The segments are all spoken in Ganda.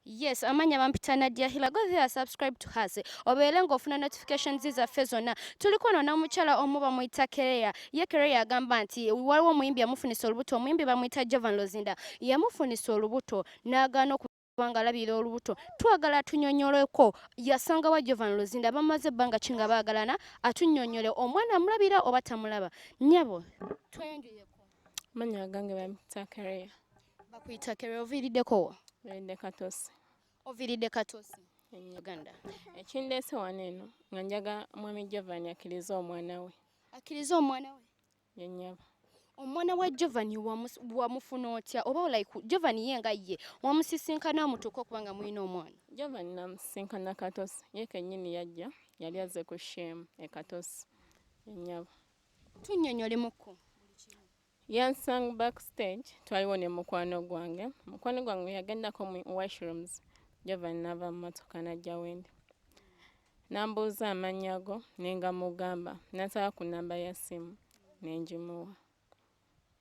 Yes, amanya bampita Nadia Hila. Go there, subscribe to her. Obeere ng'ofuna notifications zaffe zonna. Tuliko no n'omukyala omu bamuyita Kereya. Ye Kereya agamba nti waliwo omuyimbi yamufunisa olubuto. Omuyimbi bamuyita Jovan Lozinda. Yamufunisa olubuto n'agaana oku kubanga alabira olubuto twagala tunyonyoleko yasanga wa jovan luzinda bamaze ebbanga ki nga baagalana atunyonyole omwana amulabira oba tamulaba nyabo tweyanjuyeko Manya agange bamuyita Kereya. Bakuyita Kereya oviiriddeko wa? Oviiridde Katosi. Oviiridde Katosi. Uganda. Ekindeese wano eno nga njaga mwami Jovan akkirize omwana we. Akkirize omwana we? Yennyaba. Omwana wa Jovan wamufuna otya oba like Jovan ye nga ye wamusisinkana amutuuka okuba nga mulina omwana? Jovan namusisinkana Katosi ye kennyini yajja yali azze ku shame e Katosi. Yennyaba. Tunnyonnyole mukko. Yansang backstage twaliwo ne mukwano gwange. Mukwano gwange yagendako mu washrooms gyava nava mu motoka n'ajja wendi. Nambuuza amannya go ne ngamugamba n'asaba ku nnamba ya ssimu ne ngimuwa.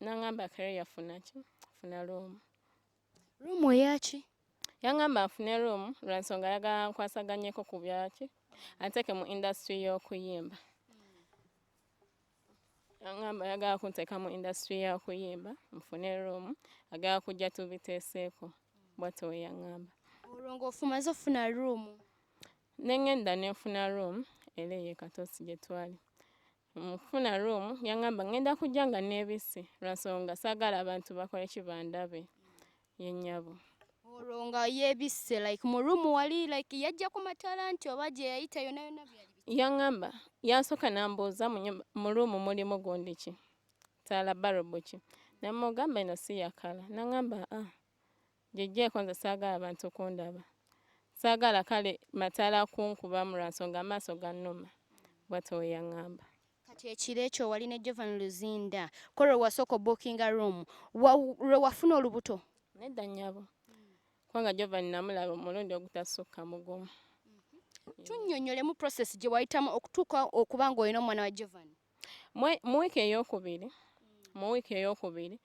Nangamba kare yafuna ki? Funa room. Room eyaki? Yangamba nfune room lwansonga ayagala nkwasaganyeko ku byaki anteeke mu industry y'okuyimba. Yangamba ayagala kunteeka mu industry y'okuyimba nfune room agala kujja tubiteeseeko bwatyo we yangamba. Olwo ng'ofumaze ofuna room? Ne ngenda ne nfuna room era eyo e Katosi gye twali. mu kufuna room yangamba ngenda kujja nga nebisi lwansonga sagala abantu bakole kibandabe yenyabo olwo nga yebisse like mu room wali like yajja ku matala nti oba gye yayita yona yona yangamba yasoka nambuuza mu room mulimu gundi ki tala barobo ki namugamba ino si yakala nangamba ah Giggyeko nze saagala bantu kundaba. Saagala kale mataala kunkubamu lwa nsonga amaaso gannuma, bw'atyo bwe yang'amba. Kati ekiro ekyo wali ne Jovan Luzinda ko lwe wasooka obbuukinga room wa, lwe wafuna olubuto? Nedda nnyabo, kubanga Jovan nnamulaba omulundi ogutasukka mu gumu. Tunnyonnyolemu process gye wayitamu okutuuka okuba ng'olina omwana wa Jovan. mu wiiki eyokubiri mu wiiki eyokubiri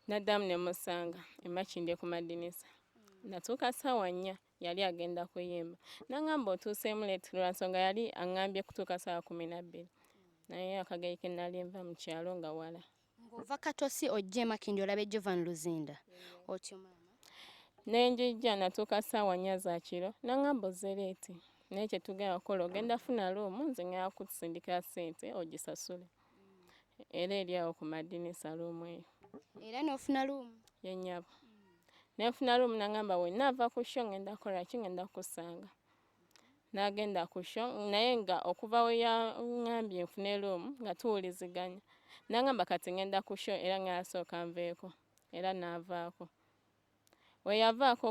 naddamu ne musanga emakinde ku madinisa natuuka ssaawa nnya yali agenda kuyimba nangamba otuuseemu leti lwa nsonga yali aŋambye kutuuka ssaawa kumi nabbiri naye akageri ke nali nva mu kyalo nga wala Ng'ova Katosi ojja e Makindye olabye Jovan Luzinda otyo maama? Ne njijja natuuka ssaawa nnya za kiro n'ang'amba ozze leeti naye kye tugenda okukola ogenda funa luumu nze ng'enda kukusindikira ssente ogisasule era eri awo ku madinisa luumu eyo. Era n'ofuna luumu? Ye nnyabo. Ne nfuna luumu n'ang'amba wennaava ku sho ng'enda kukola ki ng'enda kukusanga. n'agenda ku sho naye nga okuva we yaŋambye nfune luumu nga tuwuliziganya n'aŋamba kati ŋenda ku sho era ŋŋenda asooka nveeko era n'avaako we yavaako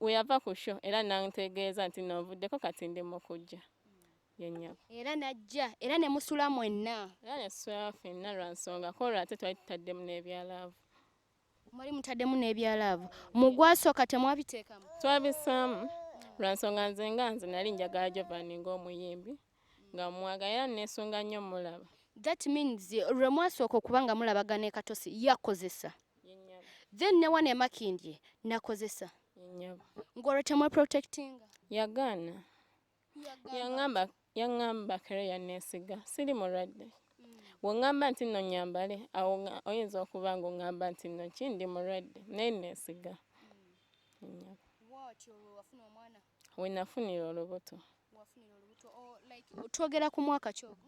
we yava ku sho era n'antegeeza nti n'ovuddeko kati ndi mu kujja yennyabo era n'ajja era ne musula mwenna era ne tusula fenna lwa nsonga koolwo ate twali tutaddemu n'ebyalaavu Mwali mutaddemu n'ebya laavu. Mu gwasooka temwabiteekamu? Twabisaamu lwa nsonga nze nga nze nali njagala Jovan ng'omuyimbi nga mmwagala era nneesunga nnyo mmulaba. That means lwe mwasooka okuba nga mulabaga ne Katosi yakozesa then ne wano e Makindye nakozesa ng'olwo temweprotectinga? Yagaana. yangamba yangamba kale yanesiga siri mulwadde wongamba nti no nyambale awo oyinza okuba nga ongamba nti no ki ndi mulwadde naye nesiga wenafunira olubuto twogera ku mwaka kyogo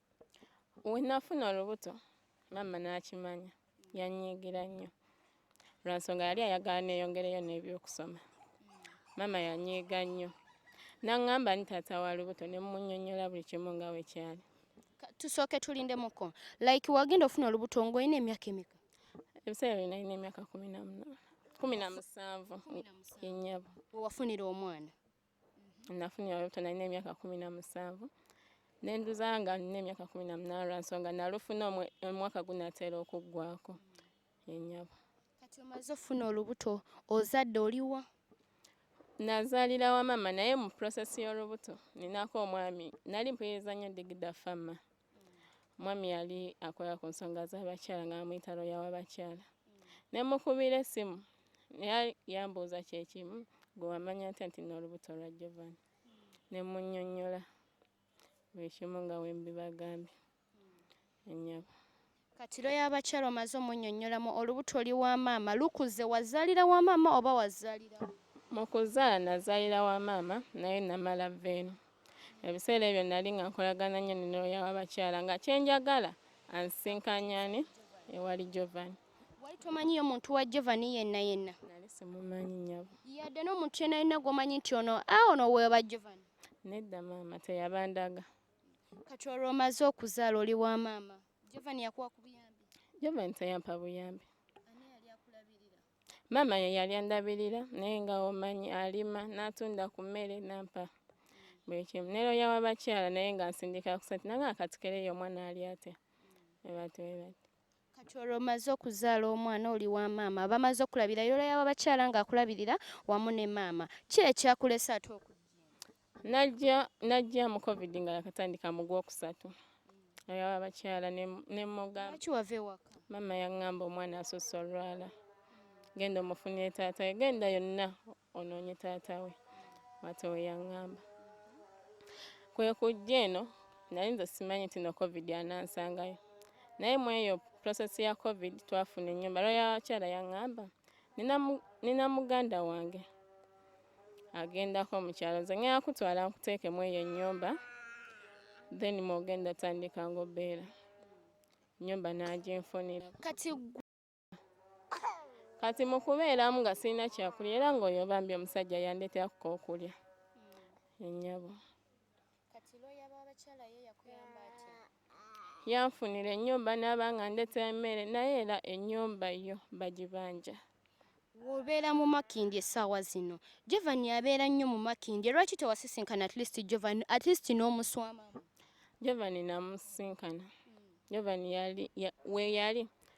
wenafuna olubuto maama n'akimanya yanyiigira nnyo lwa nsonga yali ayagala neeyongereyo n'ebyokusoma maama yanyiiga nnyo naŋŋamba ni taata wa lubuto ne mmunyonnyola buli kimu nga we kyali tusooke tulindemuko like wagenda ofuna olubuto ng'olina emyaka emeka ebiseera byo nalina emyaka kumi na munaana kumi na musanvu yennyabo wewafunira omwana nafunira olubuto nalina emyaka kumi na musanvu nenduza nga nina emyaka kumi na munaana lwa nsonga nalufuna omwaka gunatera okuggwako enyabo kati omaze ofuna olubuto ozadde oliwa nazaalira wa maama naye mu process y'olubuto ninako omwami nali mpuliriza nnyo digida fama Mwami yali akola ku nsonga z'abakyala nga bamuyita looya w'abakyala. Ne mukubira essimu naye yambuuza kye kimu gwe wamanya ntya nti n'olubuto lwa Jovan. Ne munnyonnyola buli kimu nga bwe mbibagambye. Nnyabo. Kati lawyer abakyala omaze omunyonyolamu olubuto oli wa maama lukuze wazalira wa maama oba wazalira mukuzala nazalira wa maama naye namala venu ebiseera ebyo nali nga nkolagana nnyo ne lawyer wabakyala nga kyenjagala ansinkanyani ewali jovan wali tomanyiyo omuntu wa jovan yenna yenna nali simumanyi nyabo yadde nomuntu yenna yenna gwomanyi nti ono a ah, ono weba jovan nedda maama teyabandaga kati olwo omaze okuzaala oli wa maama jovan yakuwa ku buyambi jovan teyampa buyambi maama ye yali andabirira naye nga omanyi alima n'atunda ku mmere nampa buli kimu nero yawa bakyala naye nga nsindika kusati nanga akatikereyo omwana ali atya ebatwebati Kati olwo omaze okuzaala omwana oli wa maama bamaze okulabira yola yaba bakyala nga akulabirira wamu ne maama ki ekyakulese ate oku najja najja mu covid nga yakatandika mu gwokusatu ayaba bakyala ne mugamba ki wave waka mama yangamba omwana asosa olwala genda omufunye taata genda yonna onoonye taata we mwata we yaŋŋamba kwe kujja eno nali nze simanyi nti no covid anansangayo naye mu eyo process ya covid twafuna ennyumba lwayakyala yaŋŋamba nina muganda wange agendako mu kyalo nze ŋŋenda kutwala nkuteeke mu eyo ennyumba then mwogenda tandika ngaobeera ennyumba n'aginfunira kati kati mu kubeeramu nga sirina kyakulya era ng'oyo bambi omusajja yandetera kuka okulya enyabo yanfunira ennyumba n'aba nga ndeta emmere naye era ennyumba yo bagibanja wobeera mu makindi essaawa zino jovani abeera nnyo mu makindi lwaki tewasisinkana at least jovani at least n'omuswama jovani namusisinkana jovani yali we yali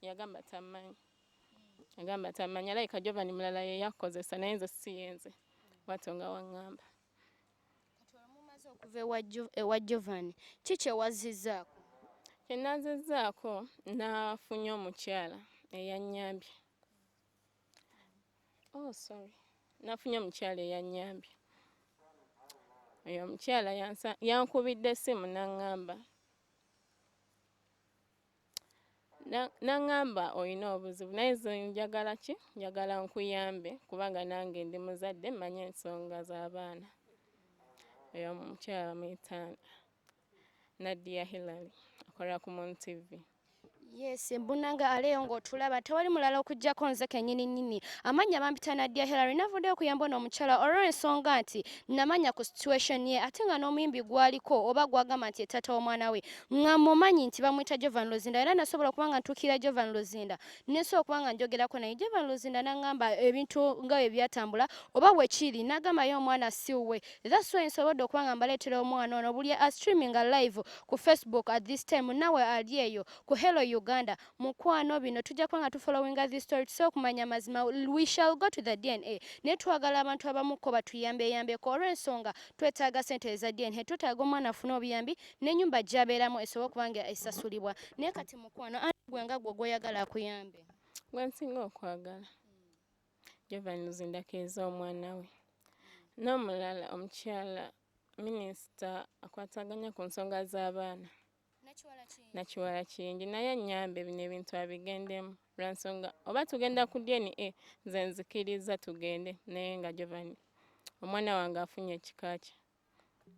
Yagamba tamanyi. Yagamba tamanyi alabika Jovan mulala yeyakozesa naye nze siyenze. Bwatyo nga wangamba. Kati olumumaze okuva ewa Jovan ki kyewazizzaako? Kyenazizzaako nafunye omukyala eyanyambye. Oh sorry. Nafunye omukyala eyanyambye. Oyo omukyala yankubidde essimu nangamba. N'aŋŋamba olina obuzibu naye nze njagala ki njagala nkuyambe kubanga nange ndi muzadde mmanyi ensonga z'abaana oyo omukyala bamuyita Nadia Hillary akolera ku Mon TV Yes, mbunanga aleyo ng'otulaba tewali mulala okujjako nze kennyini nnyini amannya bampita Nadia Hillary navudde okuyamba ono omukyala olw'ensonga nti namanya ku situation ye ate nga n'omuyimbi gwaliko oba gwagamba nti ye taata w'omwana we nga mumanyi nti bamwita Jovan Luzinda era nasobola okuba nga ntuukirira Jovan Luzinda nesobola okuba nga njogerako naye Jovan Luzinda nangamba ebintu nga bwe byatambula oba bwe kiri nagamba ye omwana si wuwe that's why nsobodde okuba nga mbaleetera omwana ono buli a streaming live ku Facebook at this time nawe ali eyo ku Hello Uganda mukwano bino tujja kuba nga tu following this story tusobola okumanya amazima we shall go to the DNA naye twagala abantu abamukko batuyambeyambeko olw'ensonga twetaaga sente eza DNA twetaaga omwana afune obuyambi n'enyumba gyabeeramu esobole okuba nga esasulibwa naye kati mukwano ani gwe nga gwe gwoyagala akuyambe gwensinga okwagala jovanuzindako ez'omwana we n'omulala omukyala minisita akwataganya ku nsonga z'abaana nakiwala kingi naye anyambe bino ebintu abigendemu lwansonga oba tugenda ku dna nze nzikiriza tugende naye nga jovani omwana wange afunye ekika kye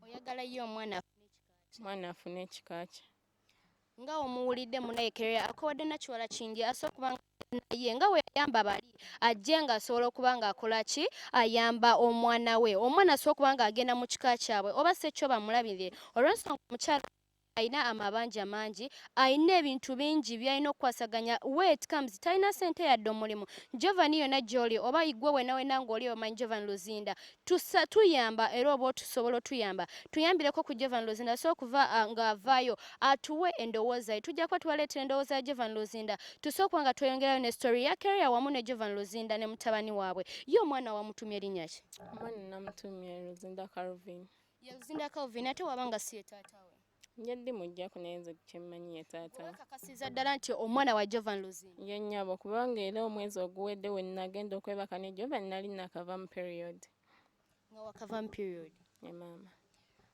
oyagala ye omwana afune ekikaakye omwana afune ekikaakye nga omuwulidde munayekerera akowadde nakiwala kingi asobola okuba nga naye nga weyayamba bali ajje nga asobola okuba nga akola ki ayamba omwana we omwana asobola okuba nga agenda mu kika kyabwe oba si ekyo bamulabire olwensonga omukyala alina amabanja mangi alina ebintu bingi byalina okukwasaganya wet comes talina sente yadde omulimu jovan yona gyoli oba igwe wenawena ngaoli omanyi jovan luzinda tusa tuyamba era oba otusobola otuyamba tuyambireko ku jovan luzinda so okuva uh, nga avayo atuwe endowooza ye tujja kuba tubaleetera endowooza ya jovan luzinda tusookuba nga tweyongerayo ne story ya keria wamu ne jovan luzinda ne mutabani waabwe ye omwana wamutumye erinnya ki omwana namutumye luzinda carvin Yaluzinda Calvin ate waba nga si ye taata we. Nja ndi mujja ku naye nze kyemmanyi ye taata. Weekakasiza ddala nti omwana wa Jovan Luzinda. Ye nnyabo kubanga era omwezi oguwedde we nagenda okwebaka ne Jovan nali nakava mu period. Nga wakava mu period? Ye maama.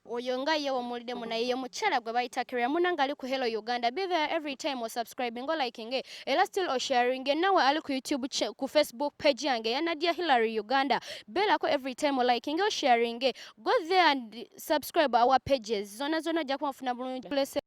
Oyo nga ye womuwuliddemu naye ye mukyala gwe bayita Kiria muna nga ali ku Hello Uganda. Be there every time o subscribing o liking e. Era still o sharing e. Nawe ali ku YouTube ku Facebook page yange ya Nadia Hillary Uganda. Beerako every time o liking o sharing e. go there and subscribe our pages zona zona ojja kuba ofuna bulungi